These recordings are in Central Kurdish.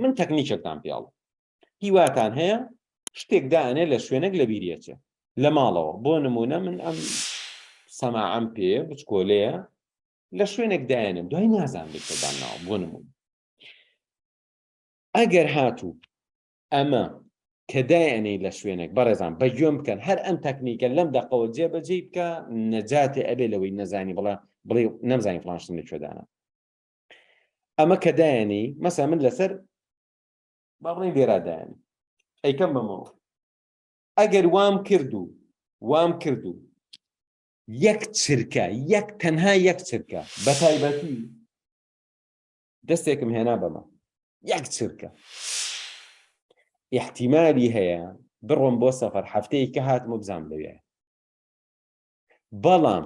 من تەکنیکێکتان پیاڵم هیواتان هەیە شتێک دانێ لە شوێنێک لە بیریەچێ لە ماڵەوە بۆ نمونە من ئەم سەماعەم پێ بچکۆلەیە لە شوێنێک دایێنم دوای نازان بێتدان ناوە بۆ نمون ئەگەر هاتوو ئەمە کە دایەنەی لە شوێنێک بەڕێزان بە گوێم بکەن هەر ئەم تەکنیکە لەم دەقەوە جێبەجێ بکە نەجاتێ ئەبێ لەوەی نەزانی بڵێ بڵێ نەمزانی فلانشتن لە کوێدانە ئەمە کە دایانی مەسا من لەسەر باڵی دێرادایانی ئەیکەم بەمەوە ئەگەر وام کرد و وام کرد و یەک چرکە یەک تەنها یەک چرکە بە تایبەتی دەستێکم هێنا بەمە یەک چرکە احتیمالی هەیە بڕۆم بۆ سەفەر هەفتەیە کە هاتمە بزانام لەوێ بەڵام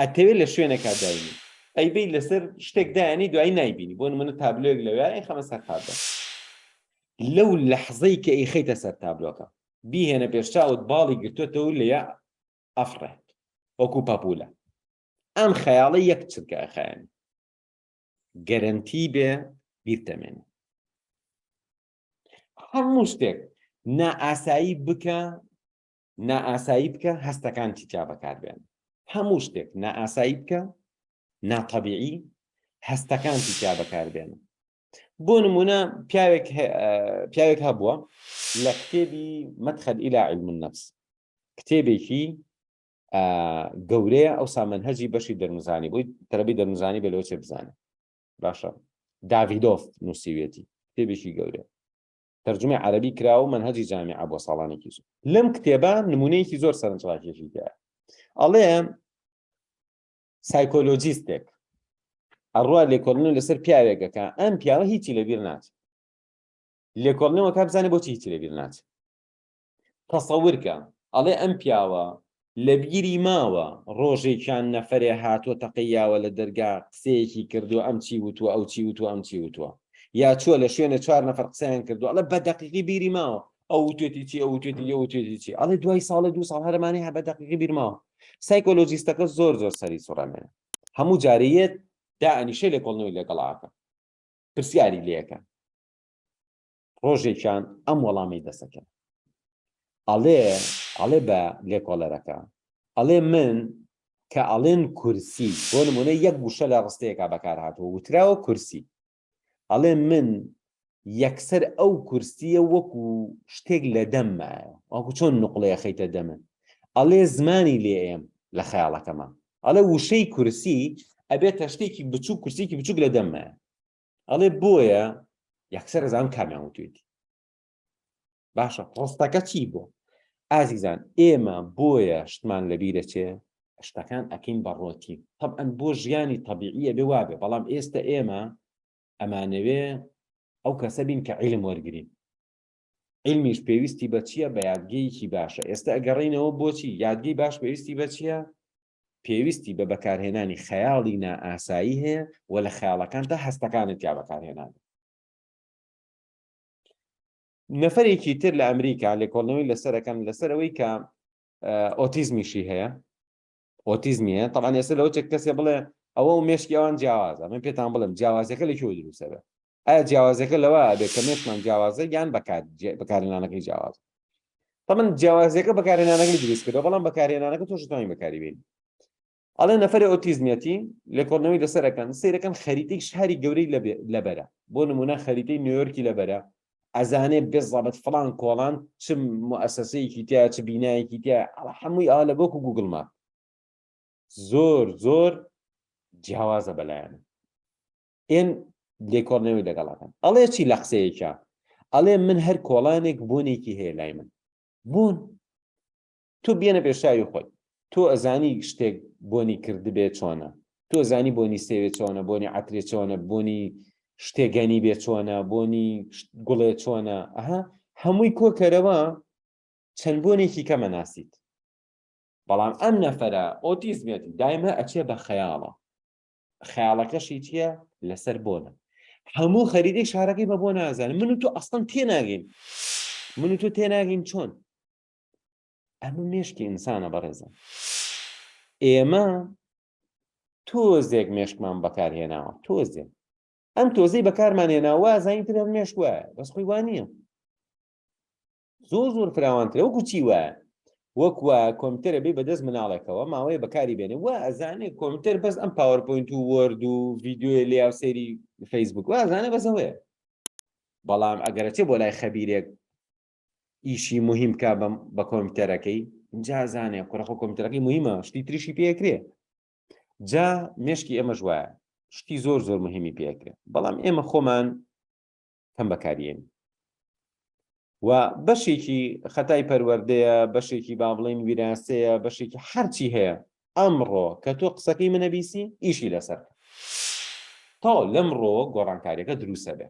ئەتەوێت لە شوێنەکە داینی ئەیبی لەسەر شتێک دایانی دوای نایبینی بۆ منە تابلۆێک لەوێ ئەی خەمە سەر تابلۆ لەو لەحزەی کە ئەی خەیتە سەر تابلۆکە بیهێنە پێشچوت باڵی گرتوتەوە لە ئەفڕێت وەکو پاپولە ئەم خەیاڵە یەک چرکە خیان گەرنتی بێ بیرتەمێن هەموو شتێک نائاسایی بکە نائاسایی بکە هەستەکانتی تیا بەکاربێن هەموو شتێک نائاسایی بکە ناتەبیعی هەستەکانتی تیا بەکاربێن بۆ نمونە پیاوێک پیاوێک هەبووە لە کتێبی مەدخەل ئیلا علم النفس کتێبێکی گەورەیە ئەو سامەنهەجی بەشی دەرمزانی بۆی تەرەبی دەرمزانی بە لەوچێ بزانێت باشە داڤیدۆف نووسیوێتی کتێبێکی گەورە تەرجومەی عەرەبی کرا و مەنهەجی جامیعە بۆ ساڵانێکی زۆر لەم کتێبە نمونەیەکی زۆر سەرنجڕاکێکی دا ئەڵێ سایکۆلۆجیستێک ئەڕوا لێکۆڵنی لەسەر پیاوێکەکە ئەم پیاوە هیچی لەبیر ناچێت لێکۆڵنەوە کا بزانێت بۆچی هیچی لەبیر ناچێت تەسەورکە ئەڵێ ئەم پیاوە لەبیری ماوە ڕۆژێکیان نەفەرێ هاتووە تەقەی یاوە لە دەرگا قسەیەکی کردووە ئەم چی وتووە ئەو چی وتووە ئەم چی وتووە یا چووە لە شوێنە چوار نەفەر قسەیان کردووە ئەڵێ بە دەقیقی بیری ماوە ئەو وتێتی چی ئەو وتێتی ئەو وتێتی چی ئەڵێ دوای ساڵە دوو ساڵ هەرمانەی هە بە دەقیقی بیرماوە سایکۆلۆجیستەکە زۆر زۆر سەری سوڕەمێ هەموو جارەیەت دا ئەنیشە لێکۆڵنەوەی لەگەڵاکە پرسیاری لەکە ڕۆژێکیان ئەم وەڵامی دەسەکەن ئەڵێ ئەڵێ بە لێکۆڵەرەکە ئەڵێ من کە ئەڵێن کورسی بۆ نمونە یەک گوشە لە ڕستەیەکە بەکار هاتووە وتراوە کورسی ئەڵێ من یەکسەر ئەو کورسیە وەکو شتێک لە دەممایە وەکو چۆن نقلەیە خەیتە دەمن ئەڵێ زمانی لێ ئێم لە خەیاڵەکەمان ئەڵێ وشەی کورسی ئەبێت تەشتێکی بچوو کورسێکی بچووک لە دەممایە ئەڵێ بۆیە یەکسەر ئەزانم کامیان وتوێتی باشە ڕستەکە چی بۆ ئازیزان ئێمە بۆیە شتمان لەبیرە چێ شتەکان ئەکەین بە ڕۆتی طبعاً بۆ ژیانی طبیعیە بێ وابێ بەڵام ئێستا ئێمە ئەمانەوێ ئەو کەسە بین کە عیلم وەرگین علمیش پێویستی بە چییە بە یادگەیەکی باشە ئێستا ئەگەڕینەوە بۆچی یادگەی باش پێویستی بە چییە پێویستی بە بەکارهێنانی خەیاڵی نائاسایی هەیە و لە خەیاڵەکاندا هەستەکانت یا بەکارهێنان نەفرێکی تر لە ئەمریکا لێکۆڵنەوەی لەسەرەکەم لەسەرەوەی کە ئۆتیزمیشی هەیە ئۆتیزمیە تاوان ئێستا لەەوە چێک کەسێ بڵێ ئەوە و مێشکی ئەوان جیاوازە من پێتان بڵم جیاوازەکە لە کێوە دروسەبێ ئایا جیاوازەکە لەوە ئەبێت کە مێشمان جیاوازە یان بەکارهێنانەکەی جیاواز تەمن جیاوازەکە بەکارهێنانەکەی دروست کردەوە بەڵام بەکارهێنانەکە تۆش توانین بەکاری بین ئەڵێ نەفری ئۆتیزمیەتی لێکۆڵنەوەی لەسەرەکەن سیرەکەن خەریتەی شاری گەورەی لەبەرە بۆ نمونە خەریتەی نیویۆرکی لەبەرە ئەزانێ بێزڵابەت فلان کۆڵان چ مؤسسەیەکی تیا چ بینایەکی تیا هەمووی ئا لە بۆکو گوگل ماپ زۆر زۆر جیاوازە بەلایەن ئێن لێکۆڵنەوەی لەگەڵ ئەکەن ئەڵێ چی لە قسەیەکە ئەڵێ من هەر کۆڵانێک بوونێکی هەیە لای من بوون تۆ بێنە پێشاوی خۆی تۆ ئەزانی شتێک بۆنی کردبێ چۆنە تۆ زانی بۆنی سێوێ چۆنە بۆنی عترێ چۆنە بۆنی شتێگەنی بێ چۆنە بۆنی گوڵێ چۆنە ئەها هەمووی کۆکەرەوە چەند بۆنێکی کەمە ناسیت بەڵام ئەم نەفرە ئۆتیزمێتی دایمە ئەچێ بە خەیاڵە خەیاڵەکەشی چییە لەسەر بۆنە هەموو خەریدەی شارەکەی بە بۆ نازانم من و تۆ ئەستان تێناگەین من و تۆ تێناگەین چۆن ئەمە مێشکی ئینسانە بەڕێزە ئێمە تۆزێک مێشکمان بەکارهێناوە تۆزێک ئەم تۆزەی بەکارمان هێناوە زانین تر مێشک وایە بەس خۆی وانە زۆر زۆر فراوانترە وەکو چی وە وەکوە کۆمپیوتەرە بێ بەدەست مناڵێکەوە ماوەیە بەکاری بێنێ وە ئەزانێ کۆمپیوتەر بەس ئەم پاوەرپۆینت و وەرد و ڤیددیوی لێ و سەیری فەیسبوک وازانە بەسەوەیە بەڵام ئەگەرچێ بۆ لای خەبیرێک ئیشی مهم کا بەم بە کۆمپیوتەرەکەی جازانێ کوڕەخۆ کۆمپیوتەرەکەی مهمە شتی تریشی پێکرێ جا مشکی ئێمەش وایە شتی زۆر زۆر مهمی پێکرێ بەڵام ئێمە خۆمان کەم بەکاریێنی و بەشێکی خەتای پەروەردەیە بەشێکی با بڵین ویراسەیە بەشێکی هەرچی هەیە ئەمڕۆ کە تۆ قسەکەی منەبیسی ئیشی لەسەر تا لەمڕۆ گۆڕانکاریەکە دروسە بێ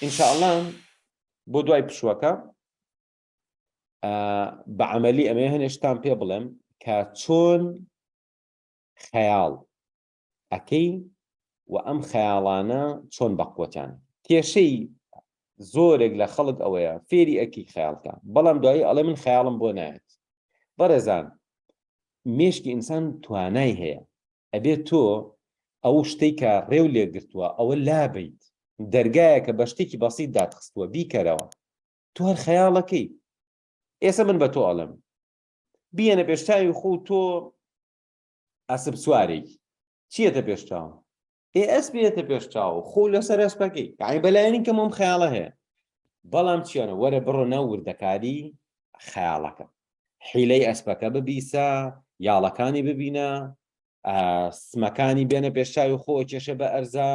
ئینشاءڵان بۆ دوای پشوەکە بە عملی ئەمێ هەنێشتان پێ بڵێم کە چۆن خەیاڵ ئەکەین و ئەم خەیاڵانە چۆن بەقوەتان کێشەی زۆرێک لە خەڵک ئەوەیە فێری ئەکی خەیاڵکە بەڵام دوایی ئەڵێ من خەیاڵم بۆ نایەت بەڕێزان مێشکی ئینسان توانای هەیە ئەبێت تۆ ئەو شتێک کە ڕێو لێگرتووە ئەوە لابیت دەرگایەکە بە شتێکی بەسیت داتخستووە بیکەرەوە تۆ هەر خەیاڵەکەی ئێستا من بە تۆ ئەڵم بیەنە پێشتاوی خۆ تۆ ئەسپ سوارێکی چیەتە پێش چاوم ئێ ئەس بێتە پێش چاو خۆ لەسەر ئەسپەکەی یعنی بەلایەنی کە مۆم خەیاڵە هەیە بەڵام چیانە وەرە بڕۆ ناو وردەکاری خەیاڵەکە حیلەی ئەسپەکە ببیسە یاڵەکانی ببینە سمەکانی بێنە پێشچوی خۆ کێشە بە ئەرزا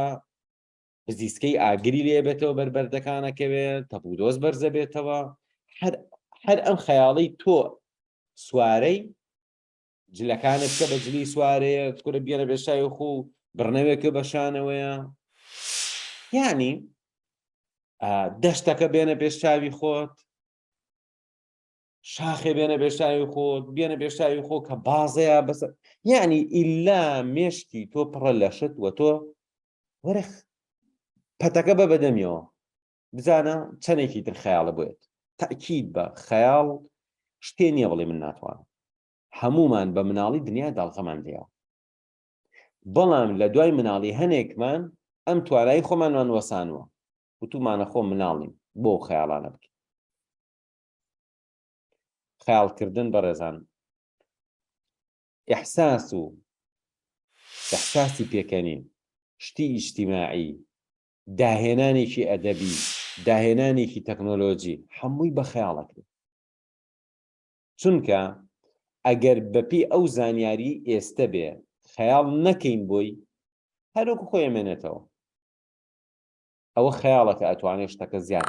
بزیسکەی ئاگری لێ بێتەوە بەربەردەکانەکەوێت تەپودۆز بەرزە بێتەوە هەر ئەم خەیاڵی تۆ سوارەی جلەکانت کە بە جلی سوارەیە کورە بگەرە بێشای خۆ و بڕنەوێکە بە شانەوەیە یعنی دەشتەکە بێنە پێش چاوی خۆت شاخێ بێنە بێشاوی خۆت بێنە بێشاوی خۆ کە بازەیە بەس یعنی ئللا مێشکی تۆ پڕە لەشت وە تۆ وەرەخ پەتەکە بە بەدەمیەوە بزانە چەندێکی تر خەیاڵە بێت تاکیید بە خەیاڵ شتێ نییە بڵێ من ناتوانم هەمومان بە مناڵی دنیا داڵغەمان لێەوە بەڵام لە دوای مناڵی هەنێکمان ئەم توانایی خۆمانمان وەسانوە وتومانە خۆ مناڵین بۆ خەیاڵانە بکەین خیالکردن بەڕێزان احساس و احساسی پێکەنین شتی ئیجتیماعی داهێنانێکی ئەدەبی داهێنانێکی تەکنۆلۆجی هەمووی بە خەیاڵەکرێت چونکە ئەگەر بەپی ئەو زانیاری ئێستە بێ خەیاڵ نەکەین بۆی هەروکو خۆی ئەمێنێتەوە ئەوە خەیاڵەکە ئەتوانێت شتەکە زیاد